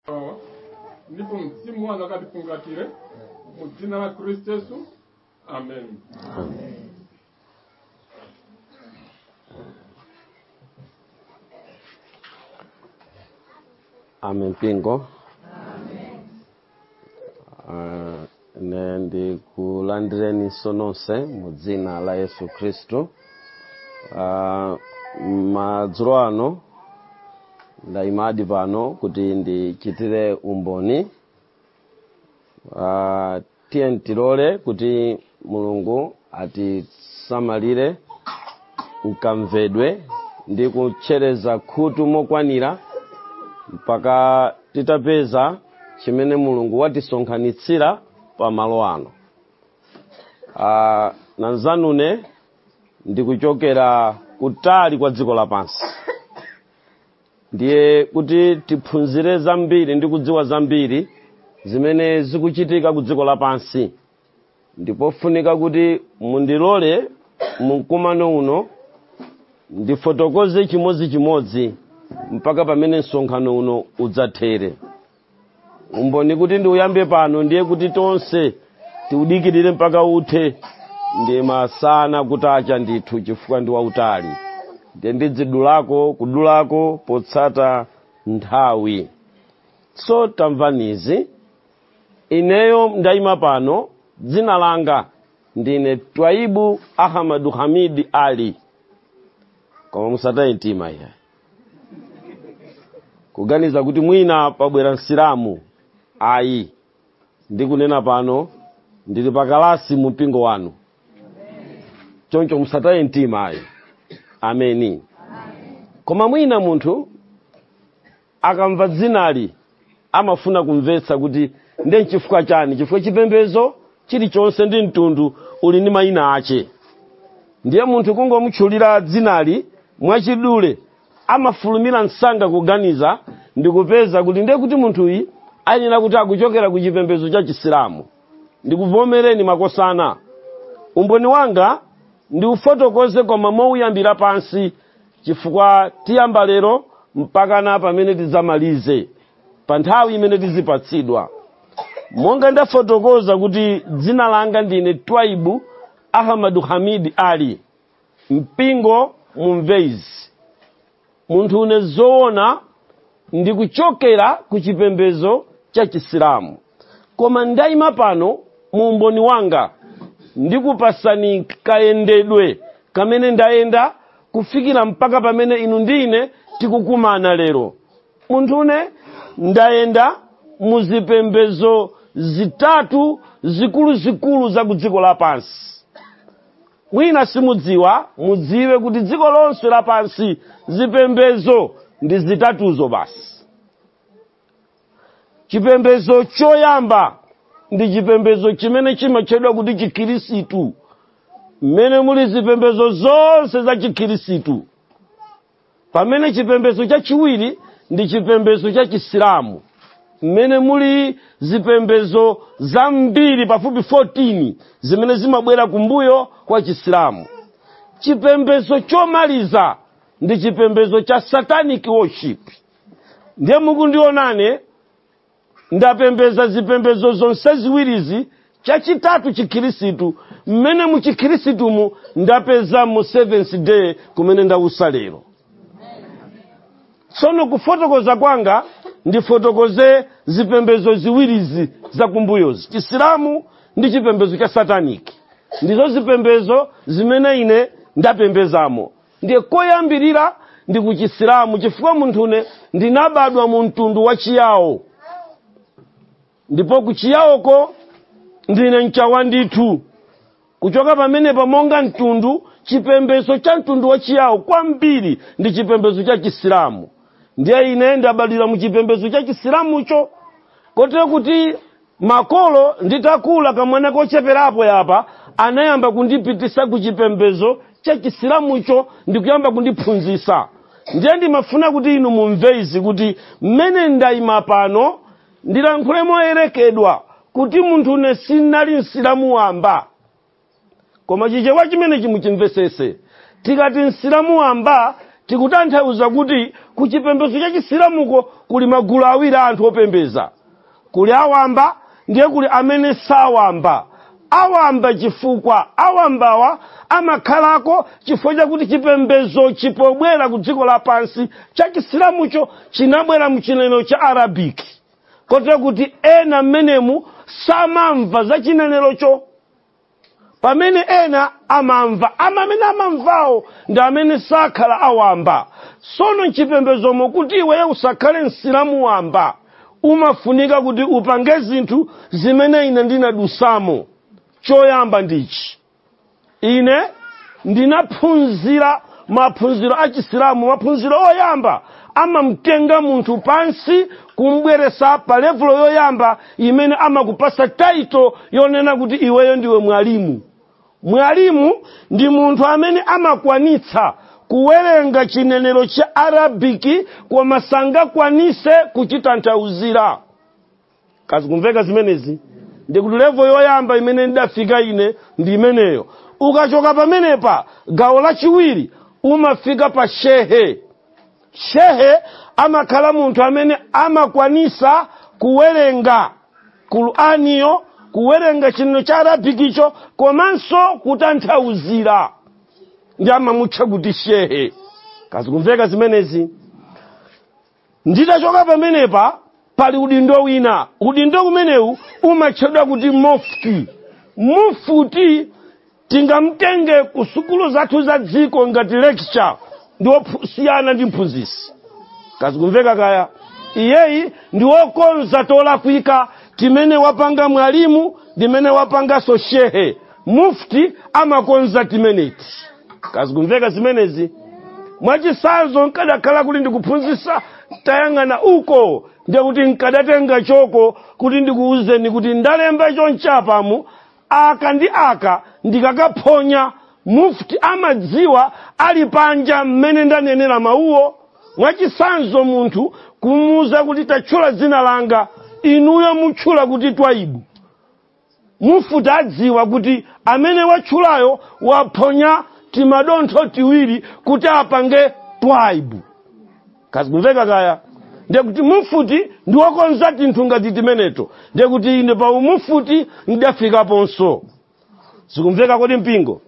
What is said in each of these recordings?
awa ndipo mzimu wanu utifungatire mu dzina la khristu yesu amen Amen. Mpingo. ine ndikulandireninso nonse mu dzina la yesu khristu Ah, madzulo ano ndayimadi pano kuti ndichitire umboni Ah, tiye tilole kuti mulungu atisamalire m'kamvedwe ndi kutchereza khutu mokwanira mpaka titapeza chimene mulungu watisonkhanitsira pa malo ano Ah, mnzanune ndikuchokera kutali kwa dziko lapansi ndiye kuti tiphunzire zambiri ndi kudziwa zambiri zimene zikuchitika ku dziko lapansi ndipofunika kuti mundilole mumkumano uno ndifotokoze chimodzichimodzi mpaka pamene msonkhano uno udzathere umboni kuti ndiuyambe pano ndiye kuti tonse tiudikirire mpaka uthe ndi masana kutacha ndithu chifukwa ndi wautali ndiye ndizidulako kudulako potsata nthawi so tamvanizi ineyo ndaima pano dzina langa ndine twaibu ahmadu hamidi ali koma musataye mtima iya kuganiza kuti mwina pabwera msilamu ayi ndikunena pano ndili pakalasi mu mpingo wanu choncho musataye mtima ayi ameni koma mwina munthu akamva dzinali amafuna kumvetsa kuti nde nchifukwa chani chifukwa chipembedzo chilichonse ndi mtundu uli ndi mayina ache ndiye munthu kungomutchulira dzinali mwachidule amafulumira msanga kuganiza ndikupeza kuti ndiye kuti munthuyu ayenera kuti akuchokera ku chipembedzo cha chisilamu ndikuvomereni makosana umboni wanga ndiufotokoze koma mouyambira pansi chifukwa tiyamba lero mpakana pamene tidzamalize pa nthawi imene tizipatsidwa monga ndafotokoza kuti dzina langa ndine twaibu ahmadu hamid ali mpingo mumve izi munthune zoona ndi kuchokera ku chipembedzo cha chisilamu koma ndayima pano mu umboni wanga ndikupasani kayendedwe kamene ndayenda kufikira mpaka pamene inu ndi ine tikukumana lero munthune ndayenda mu zipembedzo zitatu zikuluzikulu za ku dziko lapansi mwina simudziwa mudziwe kuti dziko lonse lapansi zipembezo ndi zitatuzo basi chipembezo choyamba ndi chipembezo chimene chimatchedwa kuti chikhirisitu mmene muli zipembezo zonse za chikhirisitu pamene chipembedzo chachiwiri ndi chipembedzo cha chisilamu mmene muli zipembedzo zambiri pafupi 14 zimene zimabwera kumbuyo kwa chisilamu chipembedzo chomaliza ndi chipembedzo cha satanic worship ndiye mukundiona ine ndapembeza zipembezo zonse ziwirizi chachitatu chikhirisitu mmene mu chikhirisitumu ndapezamo seventh day kumene ndausa lero tsono kufotokoza kwanga ndifotokoze zipembezo ziwirizi zakumbuyozi chisilamu ndi chipembezo cha sataniki ndizo zipembezo zimene ine ndapembezamo ndiye koyambirira ndi ku chisilamu chifukwa munthune ndinabadwa mu mtundu wa chiyawo ndipo ku chiyawoko ndine mchawa ndithu kuchoka pamenepa monga mtundu chipembedzo cha mtundu wa chiyawo kwambiri ndi chipembedzo cha chisilamu ndiye ine ndabadwira mu chipembedzo cha chisilamucho kotero kuti makolo nditakula kamwana kocheperapo yapa anayamba kundipitisa ku chipembezo cha chisilamucho ndikuyamba kundiphunzisa ndiye ndimafuna kuti inu mumve izi kuti mmene ndayima pano ndilankhule moyerekedwa kuti munthune sinali msilamu wamba koma chichewa chimenechi muchimvesese tikati msilamu wamba tikutanthauza kuti ku chipembedzo cha chisilamuko kuli magulu awiri a anthu opembeza kuli awamba ndiye kuli amene sawamba awamba chifukwa awambawa amakhalako chifukwa chakuti chipembedzo chipobwera ku dziko lapansi cha chisilamucho chinabwera mchinenero cha arabic kotero kuti ena mmenemu samamva za chinenerocho pamene ena amamva ama amene amamvawo ndi amene sakhala awamba sono mchipembedzomo kuti iweye usakhale msilamu wamba umafunika kuti upange zinthu zimene ine ndinadusamo choyamba ndichi ine ndinaphunzira maphunziro a chisilamu maphunziro oyamba amamtenga munthu pansi kumubweresa pa levulo yoyamba imene amakupasa taito yonena kuti iweyo ndiwe mwalimu mwalimu ndi munthu amene amakwanitsa kuwerenga chinenero cha arabiki koma sangakwanise kuchitanthauzira kazikumveka zimenezi ndikuti levo yoyamba imene ndidafika ine ndi imeneyo ukachoka pamenepa gawo lachiwiri umafika pa shehe shehe amakhala munthu amene amakwanisa kuwerenga qur'aniyo kuwerenga chinenero cha arabikicho komanso kutanthauzira ndiye amamutcha kuti shehe kazikumveka zimenezi titachoka pamenepa pali udindo wina udindo umenewu umatchedwa kuti mufti mufti tingamtenge ku sukulu zathu za dziko ngati lecturer ndi wosiyana ndi mphunzisi kazikumveka kaya iyeyi ndi wokonza tolakwika timene wapanga mwalimu ndi timene wapanganso shehe mufti amakonza timeneti kazikumveka zimenezi mwachisanzo nkadakhala kuti ndikuphunzisa tayang'ana uko ndiye kuti nkadatenga choko kuti ndikuwuzeni kuti ndalemba chonchi pamu aka ndi aka ndikakaphonya mufti amadziwa ali panja mmene ndanenera mawuwo mwachisanzo munthu kumuuza kuti tatchula dzina langa inuyo mutchula kuti twaibu mufuti adziwa kuti amene watchulayo waphonya timadontho tiwiri kuti apange twaibu kazikumveka kaya ndiye kuti mufuti ndi wokonza tinthu ngati timeneto ndiye kuti ine pa umufuti ndidafikaponso zikumveka kodi mpingo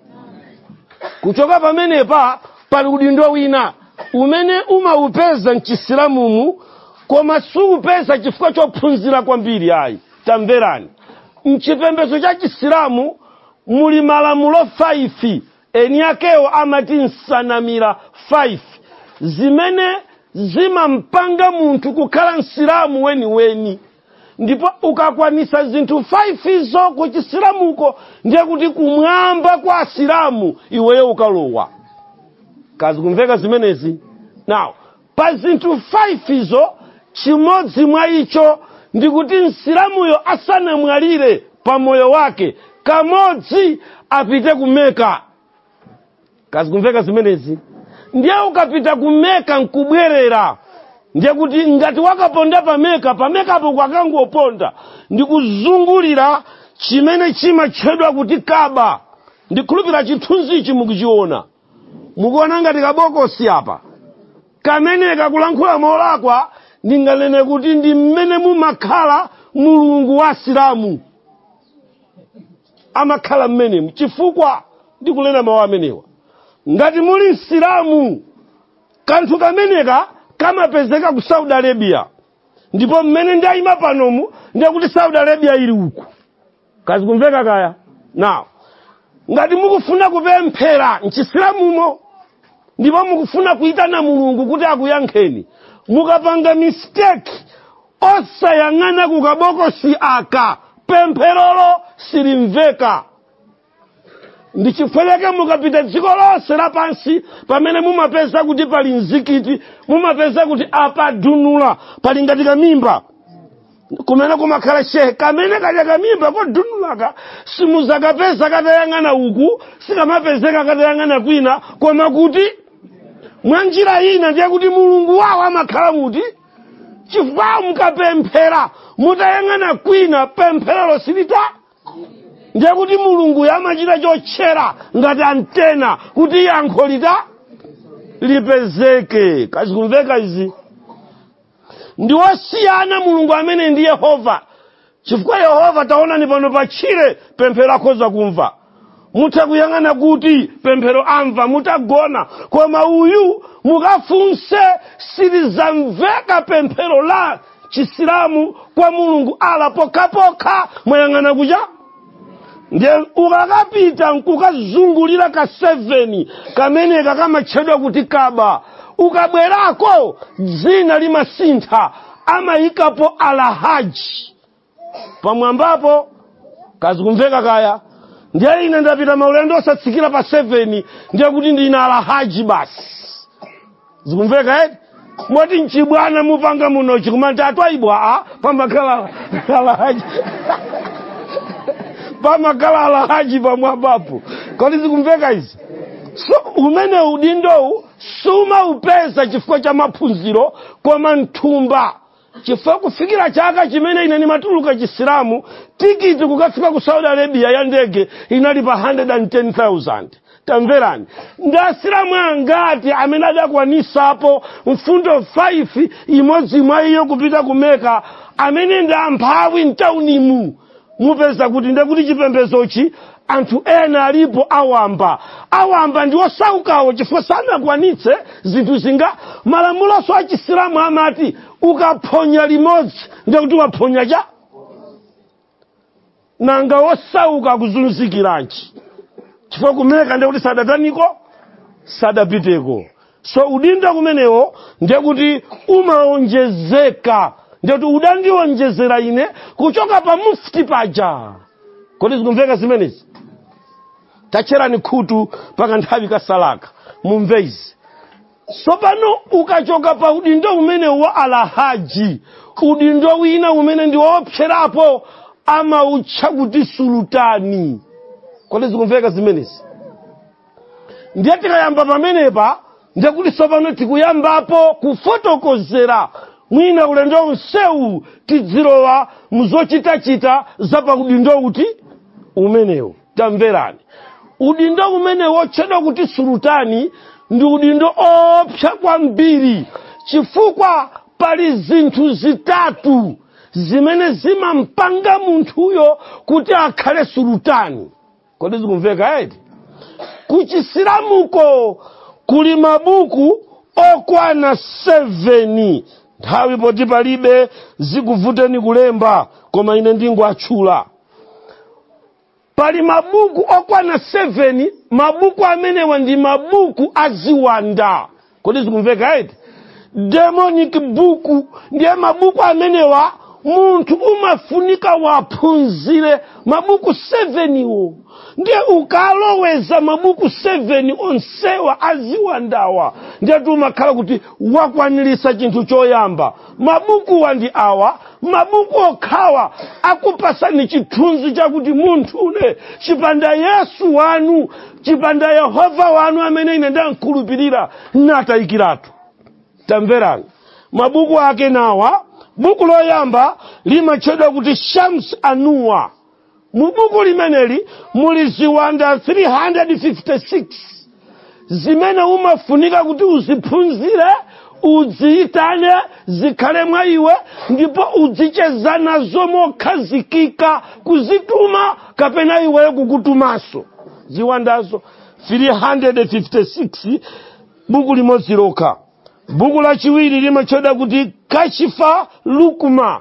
kuchoka pamenepa pali udindo wina umene umaupeza mchisilamumu koma suupeza chifukwa chophunzira kwambiri ayi tamverani mchipembedzo cha chisilamu muli malamulo 5 eni akewo amati nsanamira 5 zimene zimampanga munthu kukhala msilamu weniweni ndipo ukakwanisa zinthu 5zo ku chisilamuko ndiye kuti kumwamba kwa asilamu iweyo ukalowa kazikumveka zimenezi now pa zinthu 5 izo chimodzi mwa icho ndikuti msilamuyo asanamwalire pa moyo wake kamodzi apite ku meka kazikumveka zimenezi ndiye ukapita ku meka nkubwerera ndiye kuti ngati wakaponda pameka pamekapo kwakangoponda ndikuzungulira chimene chimatchedwa kuti kaba ndikhulupira chithunzichi mukuchiona mukuona ngati kabokosi apa kameneka kulankhula molakwa ndinganene kuti ndi mmene mumakhala mulungu wa asilamu amakhala mmenemu chifukwa ndikunena mawu amenewa ngati muli msilamu kanthu kameneka kamapezeka ku saudi arabia ndipo mmene ndayima panomu ndiye kuti saudi arabia ili uku kazikumveka kaya now ngati mukufuna kupemphera mchisilamumo ndipo mukufuna kuyitana mulungu kuti akuyankheni mukapanga mistake osayang'ana kukabokosi aka pempherolo silimveka ndi chifukwa chake mukapita dziko lonse lapansi pamene mumapeza kuti pali mzikiti mumapeza kuti apadunula pali ngati kamimba kumene kumakhala shehe kamene kaja kamimba kodunulaka simuzakapeza katayang'ana uku sikamapezeka katayang'ana kwina koma kuti mwa njira ina ndiye kuti mulungu wawo amakhala muti chifukwa mukapemphera mutayang'ana kwina pempherolo silita ndiye kuti mulunguyo amachita chotchera ngati antena kuti yankho lita lipezeke kazikumveka izi ndi wosiyana mulungu amene ndi yehova chifukwa yehova taonani pano pa tchire pemphero akhoza kumva mutha kuyang'ana kuti pemphero amva mutagona koma uyu mukafunse silizamveka pemphero la chisilamu kwa mulungu ala pokhapokha mwayang'ana kuja ndiye ukakapita nkukazungulira ka 7 kameneka kamatchedwa kuti kaba ukabwerako dzina limasintha amayikapo alahaji pamwambapo kazikumveka kaya ndiye ine ndapita maulendo osatsikira pa 7 ndiye kuti ndine alahaji basi zikumveka eti moti mchibwana mupanga munochi kumati a twaibu a pamakhala alahaji pamakhala alahaji pamwambapo kodi zikumveka izi so umene udindowu sumaupeza chifukwa cha maphunziro koma mthumba chifukwa kufikira chaka chimene ine ndimatuluka chisilamu tikiti kukafika ku saudi arabia ya ndege inali pa 110000 tamverani ndi asilamu angati amene adakwanisapo mfundo 5 imodzi mwa iyo kupita ku Meka amene ndi amphawi mtaunimu mupeza kuti ndiye kuti chipembedzochi anthu ena alipo awamba awamba ndi osaukawo chifukwa sanakwanitse zinthu zinga malamuloso a chisilamu amati ukaphonya limodzi ndiye kuti waphonya cha nanga osauka akuzunzikiranji chifukwa ku Meka ndiye kuti sadataniko sadapiteko so udindo umenewo ndiye kuti umaonjezeka ndiye kuti udandionjezera ine kuchoka pa mufti paja kodi zikumveka zimenezi tatcherani khutu pa kanthawi katsalaka mumve izi sopano ukachoka pa udindo umene wa alahaji udindo wina umene ndi woopserapo amautcha kuti sulutani kodi zikumveka zimenezi ndiye tikayamba pamenepa ndiye kuti tsopano tikuyambapo kufotokozera mwina ulendo unsewu tidzilowa muzochitachita za pa udindo uti umenewu tamverani udindo umenewu wotchedwa kuti sulutani ndi udindo oopsa kwambiri chifukwa pali zinthu zitatu zimene zimampanga munthuyo kuti akhale sulutani kodi zikumveka eti kuchisilamuko kuli mabuku okwana 7 nthawi poti palibe zikuvuteni kulemba koma ine ndingowatchula pali mabuku okwana 7 mabuku amenewa ndi mabuku aziwanda kodi zikumveka eti demonic buku ndiye mabuku amenewa munthu umafunika uwaphunzire mabuku 7 wo ndiye ukaloweza mabuku 7 onsewa aziwandawa ndiyetu umakhala kuti wakwaniritsa chinthu choyamba mabukuwa ndi awa mabuku okhawa akupatsani chithunzi chakuti munthune chipanda yesu wanu chipanda yehova wanu amene ine ndamkhulupirira natayikiratu tamverani mabuku ake ndi awa buku loyamba limatchedwa kuti shams anuwa mu buku limeneli muli ziwanda 356 zimene umafunika kuti uziphunzire udziyitane zikhale mwa iwe ndipo udzicheza nazo mokhazikika kuzituma kapena iwe kukutumanso ziwandazo 356 buku limodzi lokha buku lachiwiri limatchedwa kuti kashifa lukuma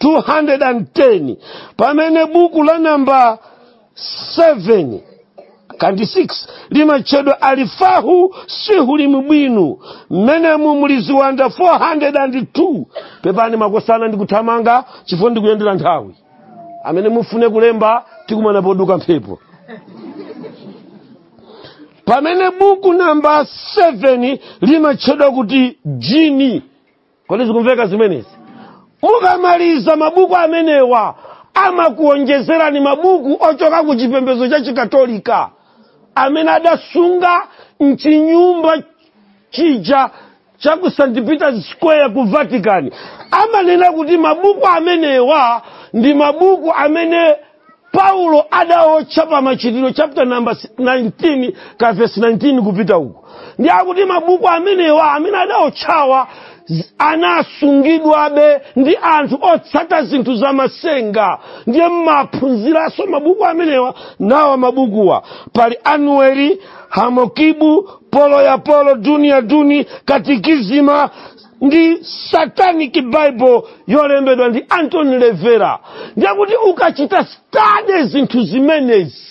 210 pamene buku la namba 7 kandi 6 limatchedwa alifahu sihulimi bwino mmenemu muli ziwanda 402 pepani makosana ndikuthamanga chifukwa ndikuyendera nthawi amene mufune kulemba tikumana poduka mphepo pamene buku namba 7 limatchedwa kuti jini kodi zikumveka zimenezi mukamaliza mabuku amenewa amakuonjezerani mabuku ochoka ku chipembedzo cha chikatolika amene adasunga mchinyumba chija cha ku st peters square ku vatican amanena kuti mabuku amenewa ndi mabuku amene paulo adaotcha pa machitidwe chapter number 19 ka verse 19 kupita uko nde akuti mabuku amenewa amene adaotchawa z- anasungidwabe ndi anthu otsata zinthu za masenga ndiye mmaphunziranso mabuku amenewa nawa mabukuwa pali anueli hamokibu polo ya polo duni ya duni katikizima ndi satanic bible yolembedwa ndi anton lavey ndiyekuti ukachita stade zinthu zimenezi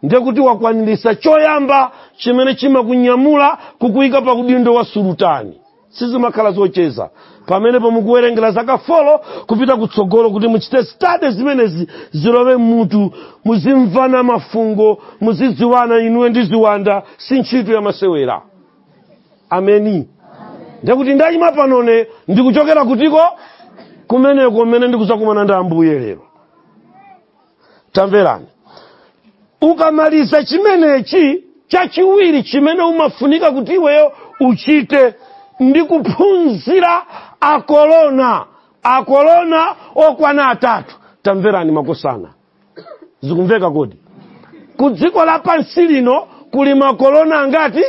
ndiyekuti wakwaniritsa choyamba chimene chimakunyamula kukuyika pa udindo wa sulutani sizimakhala zocheza pamenepo mukuwerengera zaka folo kupita kutsogolo kuti muchite stade zimenezi zilowe mmutu muzimvana mafungo muzidziwana inuwe ndi ziwanda si ntchito yamasewera ameni ndekuti ndayima panone ndikuchokera kudziko kumeneko kumene ndikuzakumana ndi ambuye lero tamverani ukamaliza chimenechi chachiwiri chimene umafunika kuti iweyo uchite ndi kuphunzira akolona akolona okwana atatu tamverani makosana zikumveka kodi pa dziko lapansi lino kuli makolona angati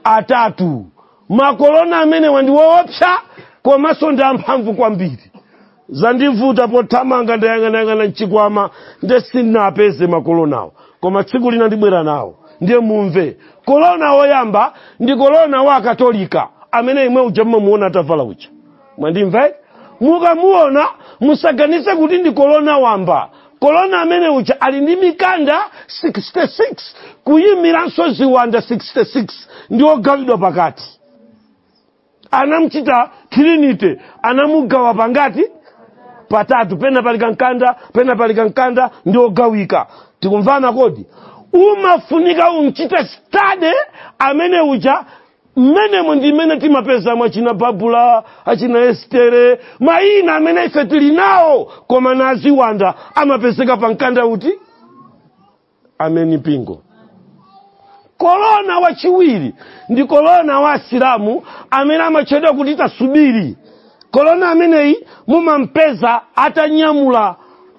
atatu makolona amenewa ndi woopsa komanso ndi amphamvu kwambiri zandivuta pothamanga ndayang'anayang'ana mchikwama nde sindinapeze makolonawo koma tsiku lina ndibwera nawo ndiye mumve kolona woyamba ndi kolona wa akatolika amene imwe uja mmamuona atavala uja mwandimva eti mukamuona musaganize kuti ndi kolona wamba kolona amene uja ali ndi mikanda 66 kuyimiranso ziwanda 66 ndi ogawidwa pakati anamchita trinity anamugawa pangati patatu pena pali kankanda pena pali kankanda ndi ogawika tikumvana kodi umafunika umchite study amene uja mmenemo ndi mmene timapezamo achina babula achina estere mayina amene ife tili nawo koma na aziwanda amapezeka pa mkanda ya kuti ameni mpingo korona wachiwiri ndi korona wa asilamu amene amatchedwa kuti tasubiri korona ameneyi mumampeza atanyamula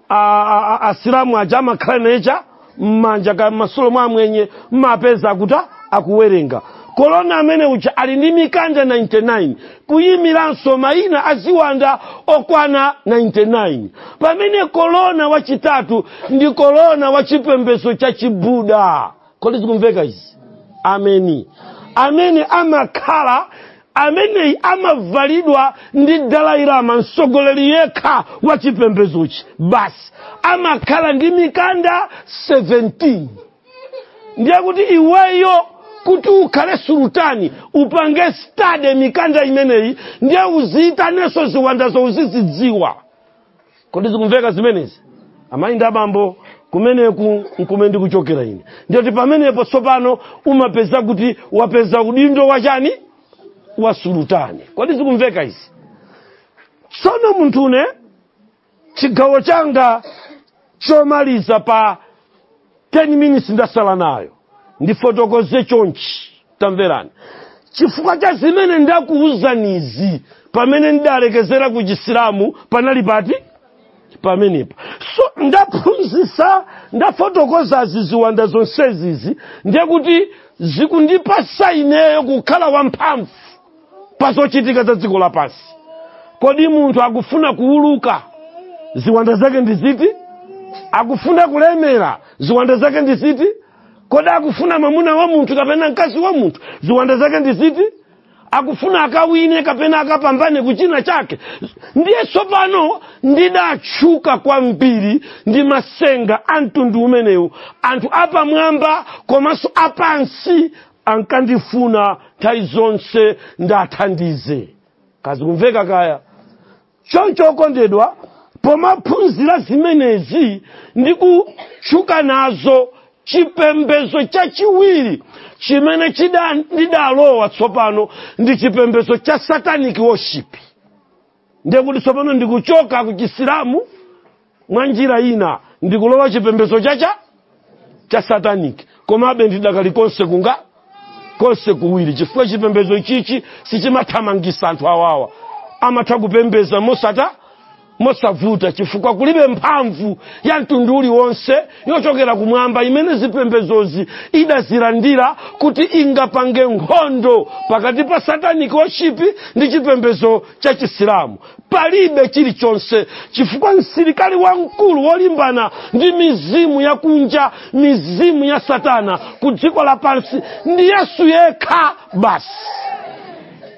a- a- a- asilamu aja amakhala nawo aja mmanja kapena mmasitolo mwa amwenye mmapeza kuti akuwerenga korona amene uja ali ndi mikanda 99 kuyimiranso mayina aziwanda okwana 99 pamene korona wachitatu ndi korona wa chipembedzo cha chibuda kodi zikumveka izi ameni amene amakhala ameneyi amavalidwa ndi dalailama mtsogoleri yekha wa chipembezochi basi amakhala ndi mikanda 17 ndiye kuti iweyo kuti ukhale sultani upange study mikanda imeneyi ndiye uziyitanenso ziwandazo uzizidziwa kodi zikumveka zimenezi amayi ndi abambo kumeneku nkumene ndikuchokera ine ndiye kuti pamenepo tsopano umapeza kuti wapeza udindo wachani wa sultani kodi zikumveka izi tsono muthu ine chigawo changa chomaliza pa 10 minutes ndasala nayo ndifotokoze chonchi tamverani chifukwa cha zimene ndakuwuzanizi pamene ndidalekezera ku chisilamu panali pati pamenepa so ndaphunzisa ndafotokoza ziziwanda zonsezizi ndiye kuti zikundipasa ineyo kukhala wamphamvu pa zochitika za dziko lapansi kodi munthu akufuna kuuluka ziwanda zake ndi ziti akufuna kulemera ziwanda zake ndi ziti kodi akufuna mwamuna wa munthu kapena mkazi wa munthu ziwanda zake ndi ziti akufuna akawine kapena akapambane kuchina chake ndiye tsopano ndidatchuka kwambiri ndi masenga a mtundu umenewu anthu apamwamba komanso apansi ankandifuna nthawi zonse ndiwathandize kaya zikumveka kaya choncho okondedwa pomaphunzira zimenezi ndi kutchuka nazo chipembedzo chachiwiri chimene chida- ndidalowa tsopano ndi chipembedzo cha satanic worship ndiye kuti tsopano ndikuchoka ku chisilamu mwa njira ina ndikulowa chipembedzo cha- cha satanic komabe ndidakali konse kunga konse kuwiri chifukwa chipembedzo ichichi sichimathamangisa anthu awawa amatha kupembeza mosata mosavuta chifukwa kulibe mphamvu ya mtundu uliwonse yochokera kumwamba imene zipembedzozi idazilandira kuti ingapange nkhondo pakati pa satanic worship ndi chipembedzo cha chisilamu palibe chilichonse chifukwa msilikali wamkulu wolimbana ndi mizimu yakunja mizimu ya satana ku dziko lapansi ndi yesu yekha basi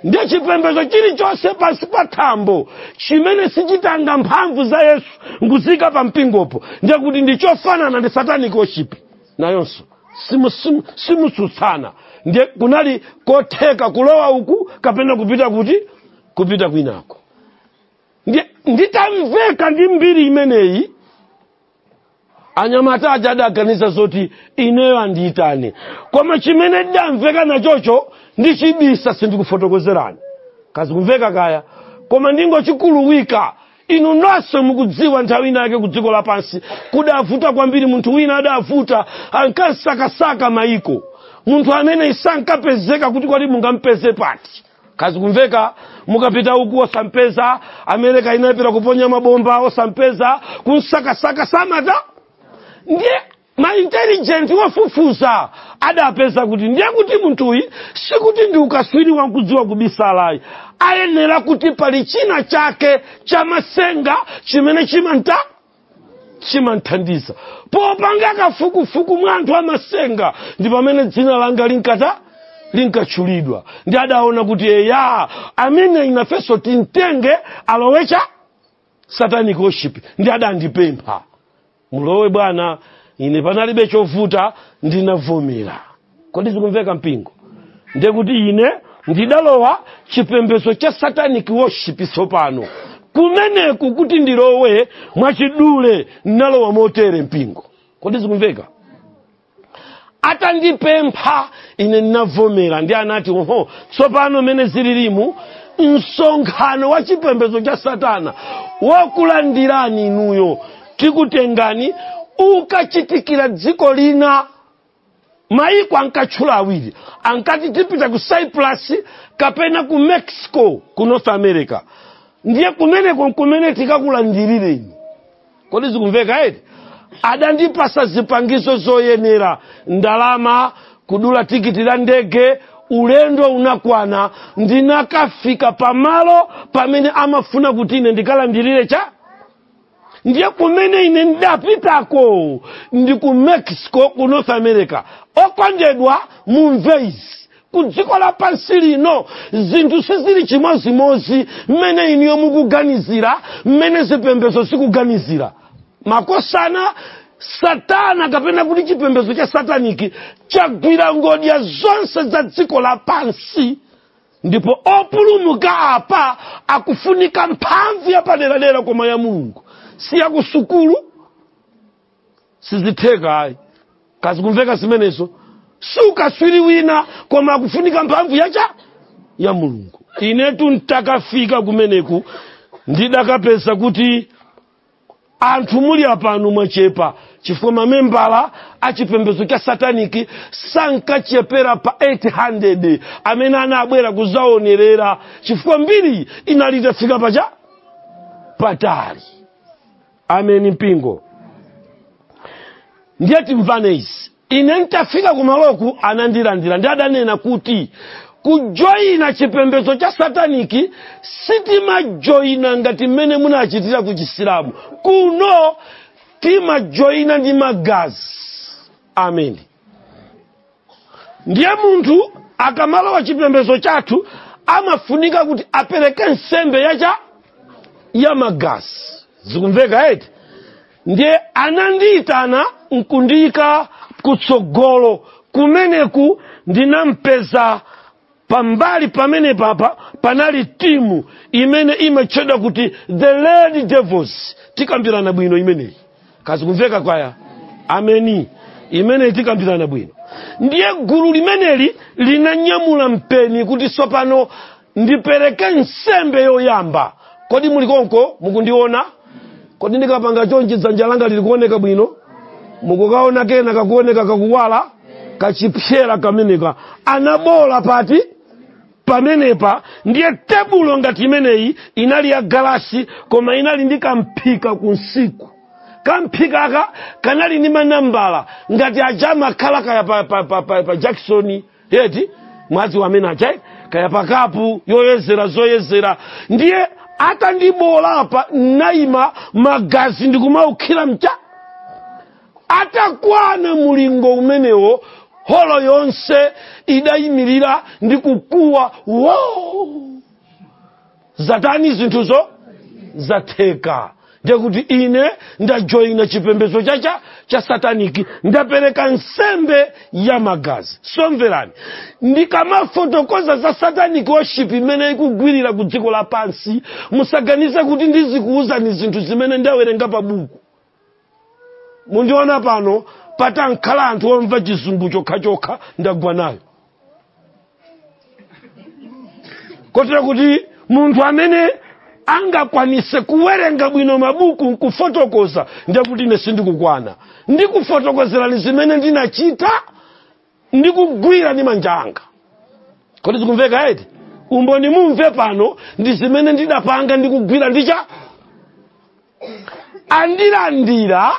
ndiye chipembedzo chilichonse pansi pa thambo chimene sichitenga mphamvu za yesu nkuziika pa mpingopo ndiye kuti ndi chofanana ndi satanic worship nayonso simu- simu- simutsutsana ndiye kunali kotheka kulowa uku kapena kupita kuti kupita kwinako ndiye nditamveka ndi mbiri imeneyi anyamata aja adaganiza zoti ineyo andiyitane koma chimene ndidamveka nachocho ndichibisa sindikufotokozerani kaya zikumveka kaya koma ndingochikuluwika inu nonse mukudziwa nthawi ina yake ku dziko lapansi kudavuta kwambiri munthu wina adavuta ankamsakasaka mayiko munthu amene sankapezeka kuti kodi mungampeze pati kaya zikumveka mukapita uku osampeza amerika inapita kuponya mabomba osampeza kumsakasaka samatha ndiye ma intelligent ofufuza adapeza kuti ndiye kuti munthuyi sikuti ndi ukatswiri wa kudziwa kubisalayi ayenera kuti pali china chake chamatsenga chimene chimamta chimamthandiza popanga kafukufuku mwa anthu amatsenga ndi pamene dzina langa linkata linkatchulidwa ndiye adaona kuti eya amene ifenso timtenge alowe cha satanic worship ndiye adandipempha mulowe bwana ine panalibe chovuta ndinavomera kodi zikumveka mpingo ndiye kuti ine ndidalowa chipembedzo cha satanic worship tsopano kumeneku kuti ndilowe mwachidule ndinalowa motere mpingo kodi zikumveka atandipempha ine ndinavomera ndiye anati oho tsopano mmene zililimu msonkhano wa chipembedzo cha satana wokulandirani inuyo tikutengani ukachitikira dziko lina mayiko ankatchula awiri ankati tipita ku cyprus kapena ku mexico ku north america ndiye kumeneko nkumene tikakulandirireni kodi zikumveka eti adandipatsa zipangizo zoyenera ndalama kudula tikiti ya ndege ulendo unakwana ndinakafika pamalo pamene amafuna kuti ine ndikalandirire cha ndiye kumene ine ndinapitako ndi ku mexico ku north america okondedwa mumve izi ku dziko lapansi lino zinthu sizili chimozimozi mmene inuyo mukuganizira mmene zipembedzo zikuganizira makosana satana kapena kuti chipembedzo cha sataniki chagwira ngodya zonse za dziko lapansi ndipo opulumuka apa akufunika mphamvu yapaderadera koma ya mulungu si yakusukulu sizitheka ayi kaya zikumveka zimenezo si ukaswiri wina koma akufunika mphamvu yacha ya mulungu inetu ntakafika kumeneku ndidakapeza kuti anthu muli apano mwachepa chifukwa mamembala a chipembedzo cha sataniki sankachepera pa 800 amene anabwera kudzaonerera chifukwa mbiri inali itafika pacha patali ameni mpingo ndiye timvane izi ine ntafika kumaloku anandilandira ndi adanena kuti kujoyina chipembedzo cha sataniki sitimajoyina ngati mmene munachitira ku chisilamu kuno timajoyina ndi magazi ameni ndiye munthu akamalowa chipembedzo chathu amafunika kuti apereke nsembe ya magazi zikumveka eti ndiye anandiyitana nkundiyika kutsogolo kumeneku ndinapeza pambali pamenepa apa panali timu imene imatchedwa kuti the lady devils tikambirana bwino imeneyi kaya zikumveka kwaya ameni imeneyi tikambirana bwino ndiye gulu limeneli linanyamula mpeni kuti tsopano ndipereke nsembe yoyamba kodi muli konko mukundiona kodi ndikapanga chonchi dzanja langa lili kuoneka bwino mukukaona kena kake kakuoneka kakuwala kachipsera kameneka anaboola pati pamenepa ndiye tebulo ngati imeneyi inali ya galasi koma inali ndi kamphika kunsiku kamphikaka kanali ndi manambala ngati aja amakhala kaya pa jakisoni eti mwadziwa amene aja eh? kaya pakapu yoyezera zoyezera ndiye atandibola apa nayima magazi ndikumaukhira mcha atakwana mulingo umenewo holo yonse idayimirira ndi kukuwa wow zatani zinthuzo zatheka ndekuti ine ndajoyina chipembedzo cha cha sataniki ndapereka nsembe ya magazi somverani ndikamafotokoza za sataniki worship imene ikugwilira ku dziko lapansi musaganize kuti ndizikuwuzani zinthu zimene ndawerenga pa buku mundiona pano patakhala anthu omva chizungu chokhachokha ndagwa nayo kotera kuti munthu amene angakwanise kuwerenga bwino mabuku nkufotokoza ndekuti ine sindikukwana ndikufotokozerani zimene ndinachita ndikugwira ndi manja anga kodi zikumveka eti umboni mumve pano ndi zimene ndidapanga ndikugwira ndicha andilandira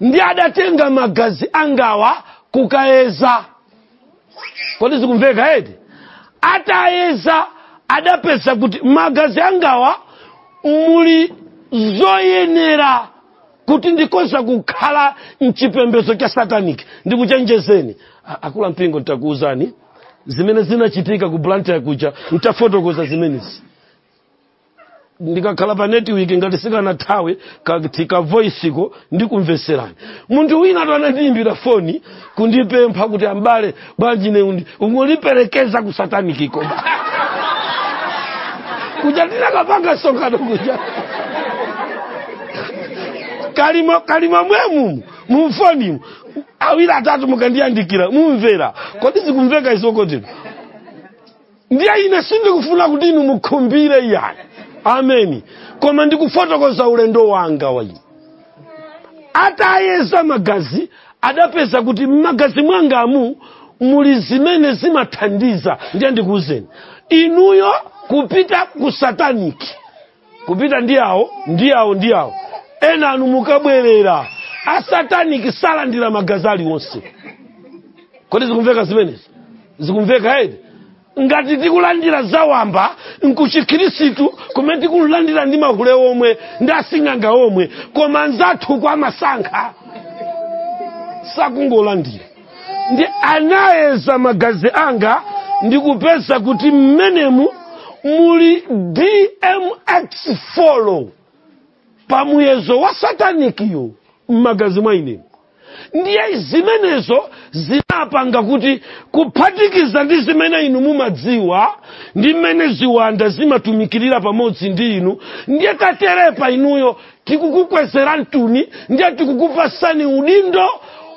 ndi adatenga magazi angawa kukayeza kodi zikumveka eti atayeza adapeza kuti magazi angawa muli zoyenera kuti ndikoza kukhala mchipembedzo cha sataniki ndikuchenjezeni akulu a mpingo ntakuwuzani zimene zinachitika ku blantyre kuja ntafotokoza zimenezi ndikakhala pa network ngati sikanathawe ka voice ko ndikumveserani munthu wina wa anandiyimbira foni kundipempha kuti ambale bwanji ine undi ungondiperekeza ku sataniki ko kuja ndinakapanga msonkhano kuja kalima kalima mwemu mumfonimu awiri atatu mukandiyandikira mumvera kodi zikumveka izi eti ndiye ine sindikufuna kuti inu mukhumbire iyayi ameni koma ndikufotokoza ulendo wanga wa ine atayeza magazi adapeza kuti m'magazi mwangamu muli zimene zimathandiza ndiye ndikuwuzeni inuyo kupita ku sataniki kupita ndi awo ndi awo ndi awo enanu mukabwerera asataniki salandira magazi aliwonse kodi zikumveka zimenezi zikumveka eti ngati tikulandira zawamba nkuchikhirisitu kumene tikulandira ndi mahule omwe ndi asing'anga omwe koma anzathuwa amasankha sakungolandira ndi anayeza magazi anga ndikupeza kuti mmenemu muli dmx follow pa muyezo wa satanikiyo m'magazi mwa ine ndiye zimenezo zinapanga kuti kuphatikiza ndi zimene inu mumadziwa ndi mmene ziwanda zimatumikirira pamodzi ndi inu ndiye katerepa inuyo tikukukwezerani tuni ndiye tikukupasani udindo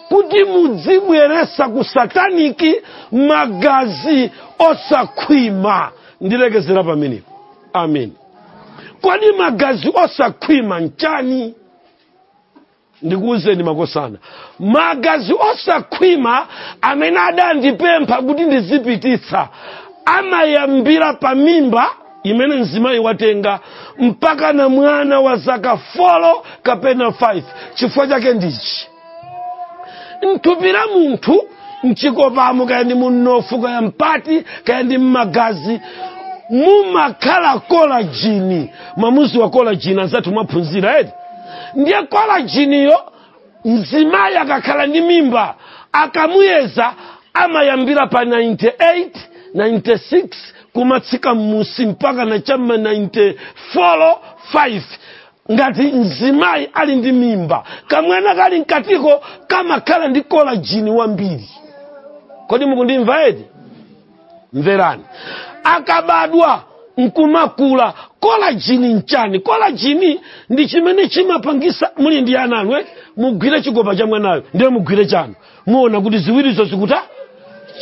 kuti mudzibweresa ku sataniki magazi osakhwima ndilekezera pamenepo amen kodi magazi osakhwima nchani ndikuwuzeni makosana magazi osakhwima amene adandipempha kuti ndizipititsa amayambira pa mimba imene mzimayi watenga mpaka na mwana wa zaka 4 kapena 5 chifukwa chake ndichi m'thupi la munthu mchikopamo kaya ndi mumnofu kaya mpati kaya ndi mmagazi mumakhala kolajini mumadziwa kolajini anzathu mwaphunzira eti ndiye kolajiniyo mzimayi akakhala ndi mimba akamuyeza amayambira pa 98 96 kumatsika mmusi mpaka na cha mma 94 5 ngati mzimayi ali ndi mimba kamwana kali mkatiko kamakhala ndi kolajini wambiri kodi mukundimva eti mverani akabadwa nkumakula kolajini nchani kolajini ndi chimene chimapangisa muli ndi ana anu eh? mugwire chikopa cha mwanayo ndiye mugwire chanu muona kuti ziwirizo zikuta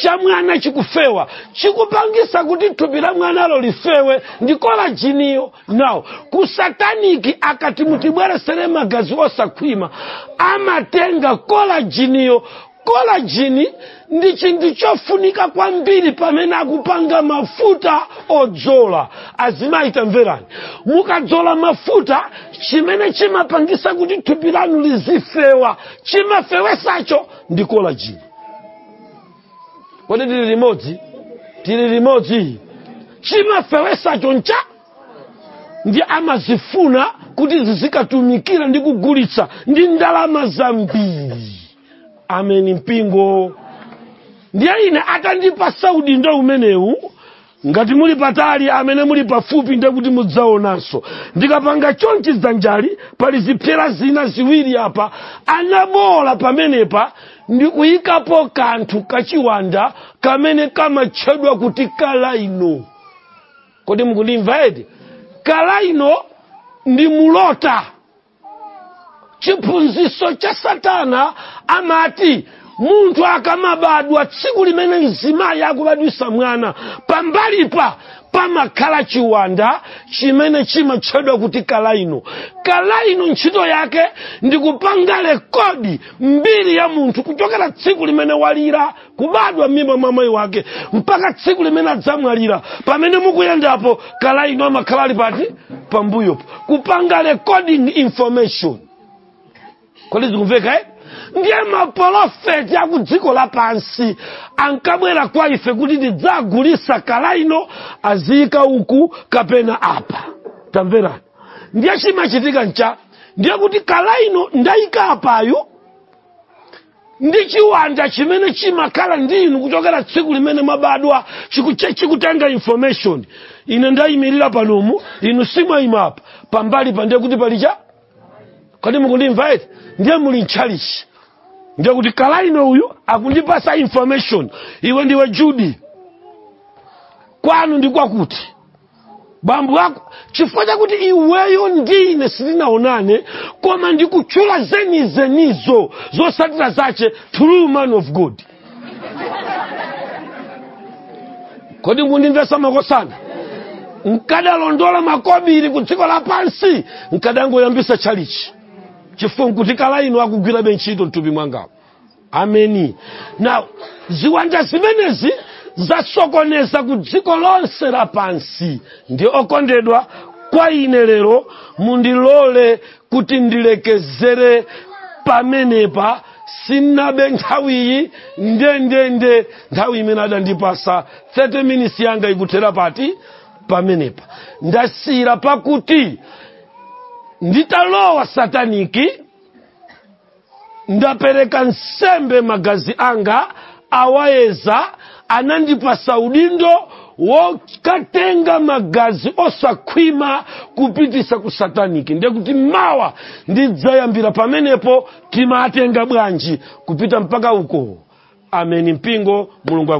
cha mwana chikufewa chikupangisa kuti thupi la mwanalo lifewe ndi kolajiniyo nde kusataniki akati mutibweresere magazi osakhwima amatenga kolajiniyo kolajini ndi chinthu chofunika kwambiri pamene akupanga mafuta odzola azimayi tamverani mukadzola mafuta chimene chimapangisa kuti thupi lanu lizifewa chimafewesacho ndi kolajini kodi tili limodzi tili limodzi chimafewesacho nchani amazifuna kuti zizikatumikira ndi kugulitsa ndi ndalama zambiri ameni mpingo ndiye ine atandipasa udindo umenewu ngati muli patali amene muli pafupi ndiye kuti mudzaonanso ndikapanga chonchi dzanjali pali zipsera zina ziwiri apa anabola pamenepa ndi kuyikapo kanthu kachiwanda kamene kamatchedwa kuti kalaino kodi mukundimva eti kalaino ndi mulota chiphunzitso cha satana amati munthu akamabadwa tsiku limene mzimayi akubadwitsa mwana pambalipo pamakhala chiwanda chimene chimatchedwa kuti kalaino kalaino ntchito yake ndi kupanga rikodi mbiri ya munthu kuchokera tsiku limene walira kubadwa m'mimba mwa mayi wake mpaka tsiku limene adzamwalira pamene mukuyendapo kalaino amakhala ali pati pambuyopo kupanga recording information kodi zikumveka eti? ndiye mapolofeti a ku dziko lapansi ankabwera kwa ife kuti tidzagulisa kalaino aziyika uku kapena apa tamverani ndiye chimachitika ncha ndiye kuti kalaino ndayika apayu ndi chiwanda chimene chimakhala ndi inu kuchokera tsiku limene mwabadwa chikute- chikutenga information ine ndayimirira panomu inu si mwayima apa pambali pa ndiye kuti pali cha kodi mukundimva eti ndiye muli mtchalichi ndiye kuti kalaino uyu akundipasa information iwe ndiwe judi kwanu ndi kwakuti bambo ako chifukwa chakuti iweyo ndine sitinaonane koma ndikutchula zenizenizo zotsatira zache true man of god kodi mukundimvesa makosana nkadalondola makobiri ku dziko lapansi nkadangoyambisa tchalichi chifukwa nkuti kalaino akugwirabe ntchito mthupi mwangamo ameni now ziwanda zimenezi zasokoneza ku dziko lonse lapansi ndiye okondedwa kwa ine lero mundilole kuti ndilekezere pamenepa sinabe nthawiyi ndendende nthawi imene adandipasa 30 minutes yanga ikuthera pati pamenepa ndasiyira pakuti nditalowa sataniki ndapereka nsembe magazi anga awayeza anandipasa udindo wokatenga magazi osakhwima kupitisa ku sataniki ndekuti mawa ndidzayambira pamenepo timatenga bwanji kupita mpaka uko ameni mpingo mulungu aku